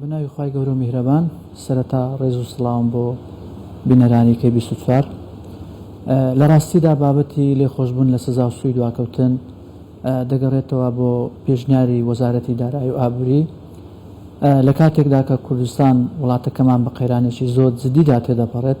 بە ناوی خوای گەورە و میهرەبان سەرەتا ڕێز و سڵاوم بۆ بینەرانی کەی بیست و چوار لە ڕاستیدا بابەتی لێخۆشببوون لە سزا و سوی دواکەوتن دەگەڕێتەوە بۆ پێشنیاری وەزارەتی دارایی و ئابووری لە کاتێکدا کە کوردستان وڵاتەکەمان بە قەیرانێکی زۆر جددیدا تێدەپەڕێت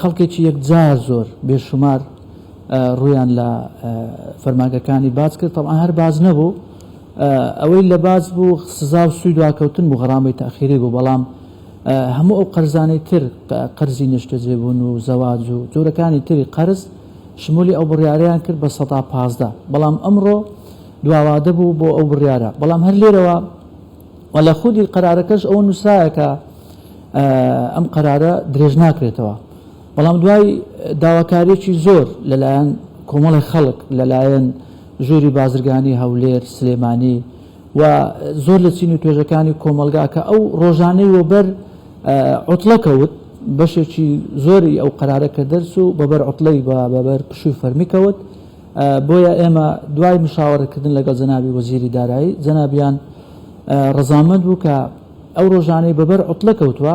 خەڵکێکی یەکجار زۆر بێ شومار ڕوویان لە فەرمانگەکانی باج کرد تەبعا هەر باج نەبوو ئەوەی لە باج بوو سزا و سوی دواکەوتن بوو غەڕامەی تاخیری بوو بەڵام هەموو ئەو قەرزانەی تر قەرزی نیشتەجێبوون و زەواج و جۆرەکانی تری قەرز شمولی ئەو بڕیارەیان کرد بە سەدا پازدە بەڵام ئەمڕۆ دواوادە بوو بۆ ئەو بڕیارە بەڵام هەر لێرەوە وە لە خودی قەرارەکەش ئەو نووسراەکە ئەم قەرارە درێژ ناکرێتەوە، بەڵام دوای داواکارییەکی زۆر لەلایەن کۆمەڵێک خەڵک، لەلایەن ژووری بازرگانی هەولێر، سلێمانی و زۆر لە چین و توێژەکانی کۆمەڵگا کە ئەو ڕۆژانەی وەبەر عوتڵە کەوت، بەشێکی زۆری ئەو قەرارە کە دەرچوو بەبەر عوتڵەی بە بەبەر پشووی فەرمی کەوت، بۆیە ئێمە دوای مشاوەرەکردن لەگەڵ جەنابی وەزیری دارایی، جەنابیان ڕەزامەند بوو کە ئەو ڕۆژانەی بە بەر عوتڵە کەوتوە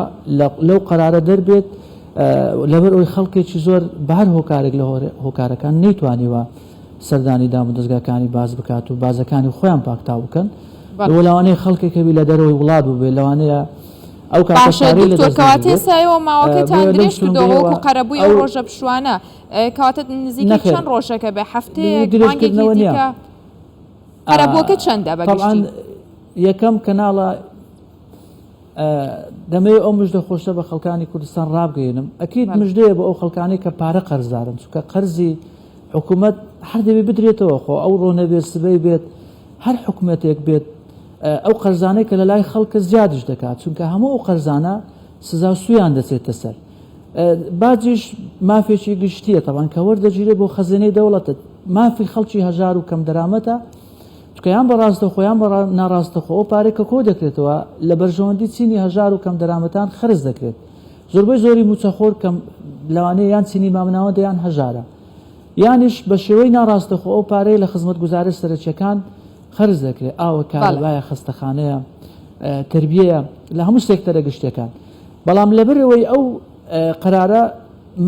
لەو قەرارە دەربێت لەبەر ئەوی خەڵکێکی زۆر بە هەر هۆکارێک لە هۆکارەکان نەیتوانیوە سەردانی دام و دەستگاکانی باز بکات و بازەکانی خۆیان پاکتاو بکەن بۆ لەوانەیە خەڵکێکەوی لە دەرەوەی وڵات بووبێت لەوانەیە ئەو کاتەکەواتێ سایەوە ماوەکەتان درێژ کردەوەکو قەرەبووی ئەو ڕۆژە پشوانە کاتت نزیکە چەند ڕۆژەکە بێ هەفتەیە درێژکردنەوە نیە قەرەبووەکە چەندە بە گشتی؟ یەکەم کەناڵە دەمەوێت ئەو مژدە خۆشە بە خەڵکانی کوردستان ڕابگەێنم ئەکییت مژدەیە بە ئەو خەڵکانی کە پارە قەرزدارن چکە قەرزی حکوومەت هەر دەبێ بدرێتەوە خۆ ئەو ڕۆنە بێت سبەی بێت هەر حکوومەتێک بێت ئەو قەرزانەی کە لە لای خەڵکە زیادش دەکات چونکە هەموو ئەو قەرزانە سزا سویان دەچێتە سەر باجیش مافێکی گشتیە تەوان کە وەردەگیرێت بۆ خەزێنەی دەوڵەتت مافی خەڵکی هەژار و کەم دەرامەتە تکیان بە ڕاستە خۆیان بە ناڕاستەخۆ ئەو پارێ کە کۆ دەکرێتەوە لە بەرژەوەندی چینی هەژار و کەم دەرامەتان خرج دەکرێت زۆربەی زۆری موچەخۆر کەم لەوانەیە یان چینی مامناوە دەیان هەژارە یانیش بە شێوەی ناڕاستەخۆ ئەو پارەیە لە خزمەت گوزارە سەرچەکان خرج دەکرێت ئاوە کارەبایە خستەخانەیە تربیەیە لە هەموو سێکتەرە گشتەکان بەڵام لەبەر ئەوەی ئەو قەرارە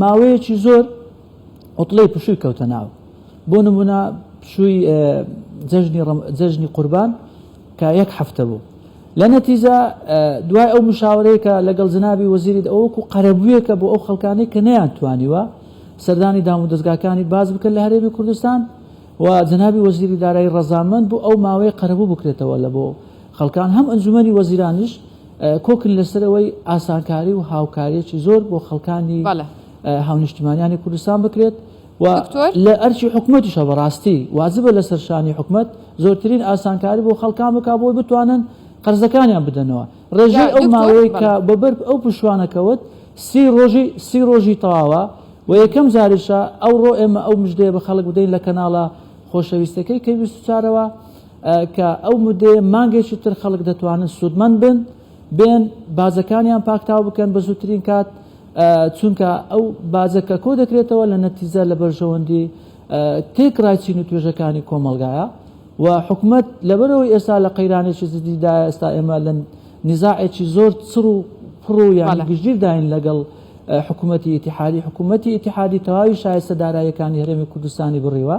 ماوەیەکی زۆر عوتڵەی پشووی کەوتە ناو بۆ نمونە پشووی جەژنی قوربان کە یەک هەفتە بوو لە نەتیجە دوای ئەو مشاورەیەکە لەگەڵ جنابی وەزیریت ئەوەکو قەرەبوویەکە بۆ ئەو خەڵکانی کە نەیان توانیوە سەردانی دام و دەستگاکانی باز بکەن لە هەرێمی کوردستان و جنابی وەزیری دارایی ڕەزامەند بوو ئەو ماوەیە قەرەبوو بکرێتەوە لە بۆ خەڵکان هەم ئەنجومی وەزیرانیش کۆکن لەسەر ئەوەی ئاسانکاری و هاوکاریەکی زۆر بۆ خەڵکانی هاونیشتیمانیانی کوردستان بکرێت و لە ئەرچی حکوومەتیشە بەڕاستی واجبە لەسەر شانی حکومت زۆرترین ئاسانکاری بۆ خەڵکان بک بۆی بتوانن قەرزەکانیان بدەنەوە ڕێژەی ئەو ماوەی کە بەبەر ئەو پشوانەکەوت سی ڕۆژی سی ڕۆژی تەواوە و یەکەم جاریشە ئەو ڕۆ ئێمە ئەو مژدەیە بە خەڵک بدەین لە کەناڵە خۆشەویستەکەی کە ویست چارەوە کە ئەو مدەیە مانگێکی تر خەڵک دەتوانن سوودمەند بن بێن باجەکانیان پاکتاو بکەن بە زووترین کات چونکە ئەو باجە کە کۆ دەکرێتەوە لە نەتیجە لە بەرژەوەندی تێکڕای چین و توێژەکانی کۆمەڵگایە و حکومت لەبەرەوەی ئێستا لە قەیرانێکی زدیدا ئێستا ئێمە لە نزاعێکی زۆر چڕ و پڕ و یان گشتگیرداین لەگەڵ حکوومەتتی ئتیحادی حکوومەتتی ئتیحادی تەواوی شایستە داراییەکانی هەرێمی کوردستانی بڕیوە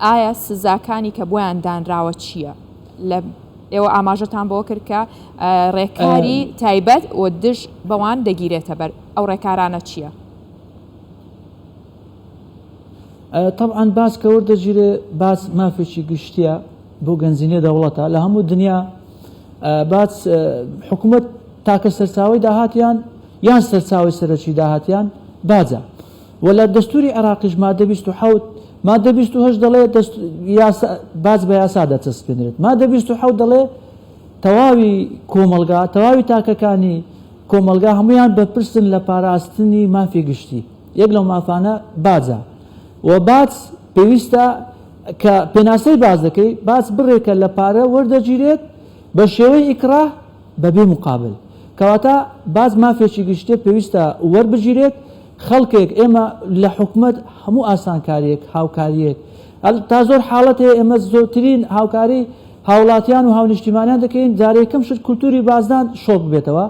ئایا سزاکانی کە بۆیان دانراوە چییە؟ لە ئێوە ئاماژەتان بەوە کرد کە ڕێکاری تایبەت و دژ بەوان دەگیرێتە بەر، ئەو ڕێکارانە چییە؟ طبعا باس کە وەردەگیرێ باس مافێکی گشتیە بۆ گەنجینێ دەوڵەتە لە هەموو دنیا باس حکوومەت تاکە سەرچاوی داهاتیان یان سەرچاوی سەرەکی داهاتیان باجە وە لە دەستوری عێراقیش مادە بیست و حەوت مادە بیست و هەشت دەڵێ دەست یاسا باج بە یاسا دەچەسپێنرێت مادە بیست و حەوت دەڵێ تەواوی کۆمەڵگا تەواوی تاکەکانی کۆمەڵگا هەمویان بەرپرسن لە پاراستنی مافی گشتی یەک لەو مافانە باجە و باج پێویستە کە پێناسەی باز دەکەی باج بڕێکە لە پارە وەردەگیرێت بە شێوەی ئیکراه بەبێ مقابل کەواتە باج مافێکی گشتێ پێویستە وەربگیرێت خەڵکێک ئێمە لە حکومەت هەموو ئاسانکاریەک هاوکاریەک ئەل تا زۆر حاڵەت هەیە ئێمە زۆرترین هاوکاری هاوڵاتیان و هاونیشتیمانیان دەکەین جارێکم شت کولتوری بازدان شۆک ببێتەوە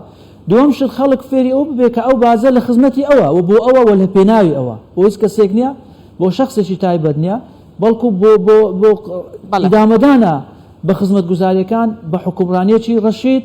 دووەم شت خەڵک فێری ئەو ببێ کە ئەو بازە لە خزمەتی ئەوە و بۆ ئەوە وە لە پێناوی ئەوە بۆ هیچ کەسێک نییە بۆ شخصێکی تایبەت نییە بەڵکو بۆ بۆ بۆ ئیدامەدانە بە خزمەتگوزاریەکان بە حکومڕانیەکی ڕەشید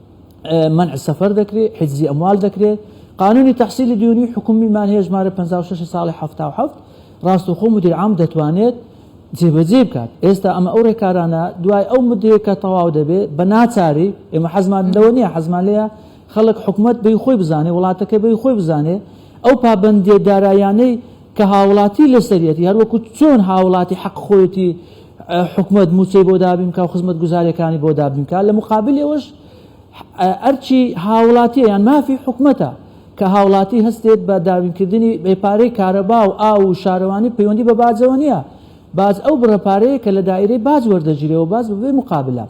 مەنع سەفەر دەکرێت، حیجزی ئەموال دەکرێت، قانونی تەحسیلی دیونی حکومی مانهی ژمارە پەنجا و شەش ساڵی حەفتا و حەفت، ڕاستەوخۆ مدیر عام دەتوانێت جێبەجێی بکات، ئێستا ئەمە ئەو ڕێکارانە دوای ئەو مدەیە کە تەواو دەبێت بە ناچاری، ئێمە حەزمان لەوە نییە، حەزمان لێیە خەڵک حکومەت بەی خۆی بزانێت، وڵاتەکە بەی خۆی بزانێت، ئەو پابەندییە داراییانەی کە هاوڵاتی لەسەریەتی، هەروەکو چۆن هاوڵاتی حەق خۆیەتی، حکومەت موچەی بۆ دابین بکا و خزمەتگوزاریەکانی بۆ دابین بکا لە مقابل ئەوەش ئەرچی هاوڵاتیە یان مافی حکومەتە کە هاوڵاتی هەستێت بە دابینکردنی بێپارەی کارەبا و ئاو و شارەوانی پەیوەندی بە باجەوە نییە باز ئەو بڕە پارەیە کە لە دایرەی باج وەردەگیرێەوە باز بەبێ مقابلە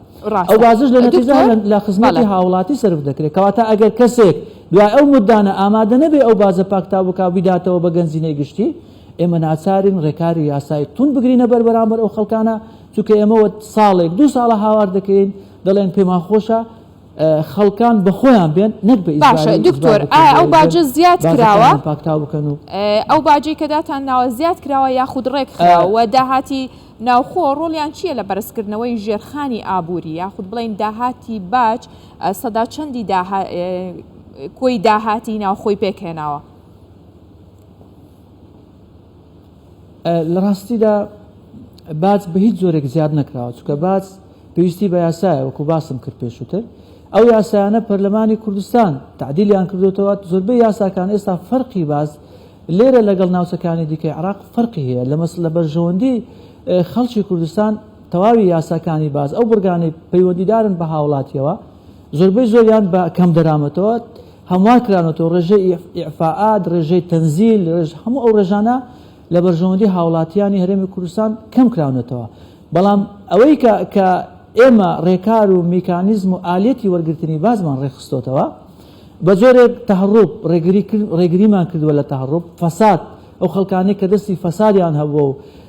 ئەو بازش لە نەتیجا لە خزمەتی هاوڵاتی سرف دەکرێت کەواتە ئەگەر کەسێک دوای ئەو مدانە ئامادە نەبێ ئەو بازە پاکتاو بک و بیداتەوە بە گەنجینەی گشتی ئێمە ناچارین ڕێکاری یاسایی توند بگرینە بەر بەرامبەر ئەو خەڵکانە چونکە ئێمەوە ساڵێک دوو ساڵە هاوار دەکەین دەڵێن پێمان خۆشە خەڵکان بەخۆیان بێن نەک بە باشە دکتۆر ئەو باجە زیاد کراوە پاکتاو بکەن و ئەو باجی کەداتان ناوە زیاد کراوە یاخود ڕێکخراوە داهاتی ناوخۆ ڕۆڵیان چییە لە بەرزکردنەوەی ژێرخانی ئابووری یاخود بڵین داهاتی باج سەدا چەندی کۆی داهاتی ناوخۆی پێکهێناوە لە ڕاستیدا باج بە هیچ جۆرێک زیاد نەکراوە چکە باج پێویستی بە یاسایە وەکو باسم کرد پێشووتر ئەو یاسایانە پەرلەمانی کوردستان تعدیلیان کردوتەوە زۆربەی یاساکان ئێستا فەرقی باز لێرە لەگەڵ ناوچەکانی دیکەی عراق فەرقی هەیە لە مەسلە بەرژەوەندی خەڵکی کوردستان تەواوی یاساکانی باز ئەو بڕگانەی پەیوەندیدارن بە هاوڵاتیەوە زۆربەی زۆریان بە کەم دەرامەتەوە هەموار کرانەتەوە، ڕێژەی ئیعفائات، ڕێژەی تەنزیل، ڕێژ هەموو ئەو ڕێژانە لە بەرژەوەندی هاوڵاتیانی هەرێمی کوردستان کەم کراونەتەوە، بەڵام ئەوەی کە کە ئێمە ڕێکار و میکانیزم و ئالیەتی وەرگرتنی بازمان ڕێکخستۆتەوە بە جۆرێک تەهەڕوب ڕێگری ڕێگریمان کردوە لە تەهەڕوب فەساد ئەو خەڵکانەی کە دەستی فەسادیان هەبووە و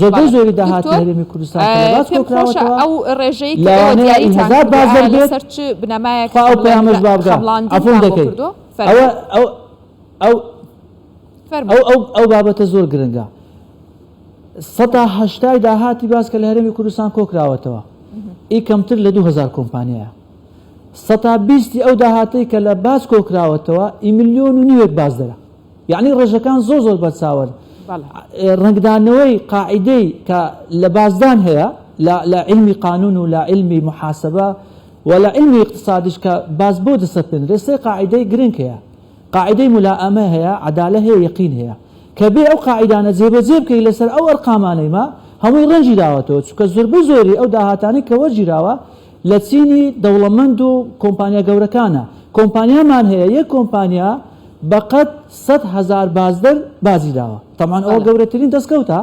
زۆربەی زۆری داهاتی هەرێمی کوردستان کە لە باج کۆکراوەتەوە لەوانەیە ئی هەزار بازەر بێت، خوا ئەو پەیامەش با بگا، عەفوم دەکەی. ئەو بابەتە زۆر گرنگە. سەدا هەشتای داهاتی باج کە لە هەرێمی کوردستان کۆکراوەتەوە، ئی کەمتر لە دوو هەزار کۆمپانیایە. سەدا بیستی ئەو داهاتەی کە لە باج کۆکراوەتەوە، ئی ملیۆن و نیوێک بازەرە. یەعنی ڕێژەکان زۆر زۆر بەرچاون. ڕەنگدانەوەی قاعیدەی کە لە بازدان هەیە لە لە عیلمی قانون و لە عیلمی محاسبە و لە عیلمی ئیقتسادیش کە باز بۆ دەسەپێندرێ سێ قاعیدەی گرنگ هەیە. قاعیدەی مولائەمە هەیە، عەدالە هەیە، یەقین هەیە. کە بێ ئەو قاعیدانە جێبەجێ بکەی لەسەر ئەو ئەرقامانەی ما هەمووی ڕەنگی داوەتەوە چونکە زۆربەی زۆری ئەو داهاتانەی کە وەرگیراوە لە چینی دەوڵەمەند و کۆمپانیا گەورەکانە، کۆمپانیامان هەیە یەک کۆمپانیا بە قەد سەد هەزار بازدەر بازی داوە، تەبعەن ئەوە گەورەترین دەستکەوتە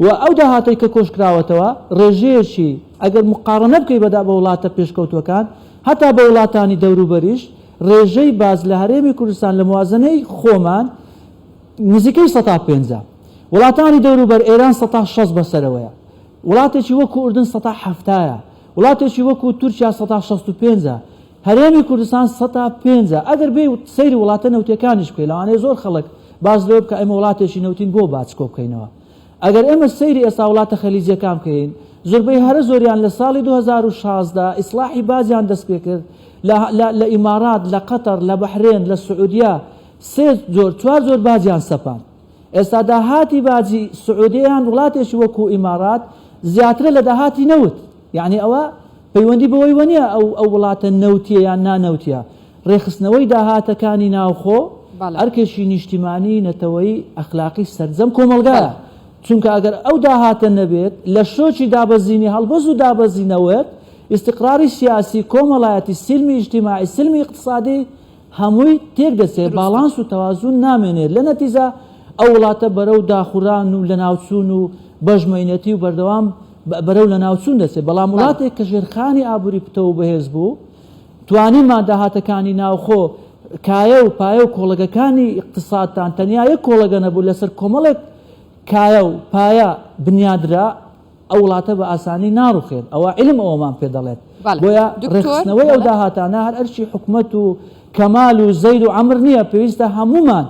و ئەو داهاتەی کە کۆشکراوەتەوە ڕێژەیەکی ئەگەر موقاڕەنە بکەی بە وڵاتە پێشکەوتووەکان هەتا بە وڵاتانی دەوروبەریش ڕێژەی باز لە هەرێمی کوردستان لە موازەنەی خۆمان نزیکەی سەتا پێنجە وڵاتانی دەوروبەر ئێران سەتا شەست بەسەرەوەیە وڵاتێکی وەکو ئوردن سەتا حەفتایە وڵاتێکی وەکو تورکیا سەتا شەست و پێنج ە، هەرێمی کوردستان سەتا پێنج ە، ئەگەر بێی و سەیری وڵاتە نەوتیەکانیش بکەی لەوانەیە زۆر خەڵک باس لەوە بکا ئێمە وڵاتێکی نەوتین بۆ باج کۆبکەینەوە؟ ئەگەر ئێمە سەیری ئێستا وڵاتە خەلیجیەکان بکەین زوربەی هەرە زۆریان لە ساڵی دوو هەزار و شازدە ئیسڵاحی باجیان دەست پێ کرد لە لە لە ئیماڕات لە قەتەڕ لە بەحرێن لە سعودیە سێ جۆر چوار جۆر باجیان سەپاند ئێستا داهاتی باجی سعودیە یان وڵاتێکی وەکو ئیمارات زیاترە لە داهاتی نەوت یعنی ئەوە پەیوەندی بەوەی وەنیە ئەو ئەو وڵاتە نەوتیە یان نانەوتە ڕێخستنەوەی داهاتەکانی ناوخۆ ئەرکێکی نیشتیمانی نەتەوەی ئەخلاقی سەرجەم کۆمەلگا چونکە ئەگەر ئەو داهاتە نەبێت لە شۆکی دابەزینی هەڵبەز و دابەزینەوەت ئیستقراری سیاسی کۆمەڵایەتی سیلمی ئیجتیماعی سلمی ئیقتسادی هەمووی تێک دەچێت دروستە. باڵانس و تەوازون نامێنێت لە نەتیجە ئەو وڵاتە بەرەو داخوران و لەناوچوون و بەژمەینەتی و بەردەوام بەرەو لەناوچوون دەچێت بەڵام بەڵێ. وڵاتێک کە ژێرخانی ئابووری پتەو و بەهێز بوو توانیمان داهاتەکانی ناوخۆ کایە و پایە و کۆڵەگەکانی ئیقتسادتان تەنیا یەک کۆڵەگە نەبوو لەسەر کۆمەڵێک کایە و پایە بنیادرا، ئەو وڵاتە بە ئاسانی ناڕوخێت ئەوە عیلم ئەوەمان پێ دەڵێت بۆیە ڕێکخستنەوەی ئەو داهاتانە هەر ئەرکی حکومەت و کەمال و زەید و عەمر نییە پێویستە هەموومان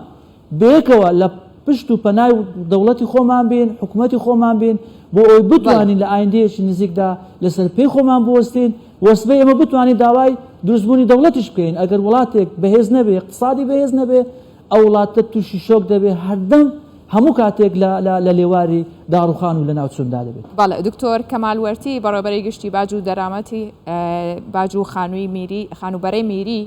بەیەکەوە لە پشت و پەنای دەوڵەتی خۆمان بین حکومەتی خۆمان بین بۆ ئەوی بتوانین لە ئایندەیەکی نزیکدا لەسەر پێی خۆمان بوەستین وەسبەی ئەمە بتوانین داوای دروستبوونی دەوڵەتیش بکەین ئەگەر وڵاتێک بەهێز نەبێ اقتصادی بەهێز نەبێ ئەو وڵاتە تووشی شۆک دەبێت هەردەم هەموو کاتێک لە لێواری داڕووخان و لەناوچووندا دەبێت. بەڵێ، دکتۆر کەمال وەرتی، بەڕێوەبەری گشتی باج و دەرامەتی باج و خانووی میری، خانووبەرەی میری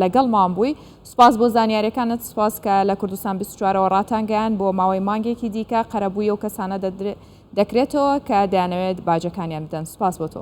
لەگەڵمان بووی. سوپاس بۆ زانیاریەکانت، سوپاس کە لە کوردستان بیست و چوار ەوە ڕاتانگەیاند بۆ ماوەی مانگێکی دیکە قەرەبووی ئەو کەسانە دەکرێتەوە کە دەیانەوێت باجەکانیان بدەن. سوپاس بۆ تۆ.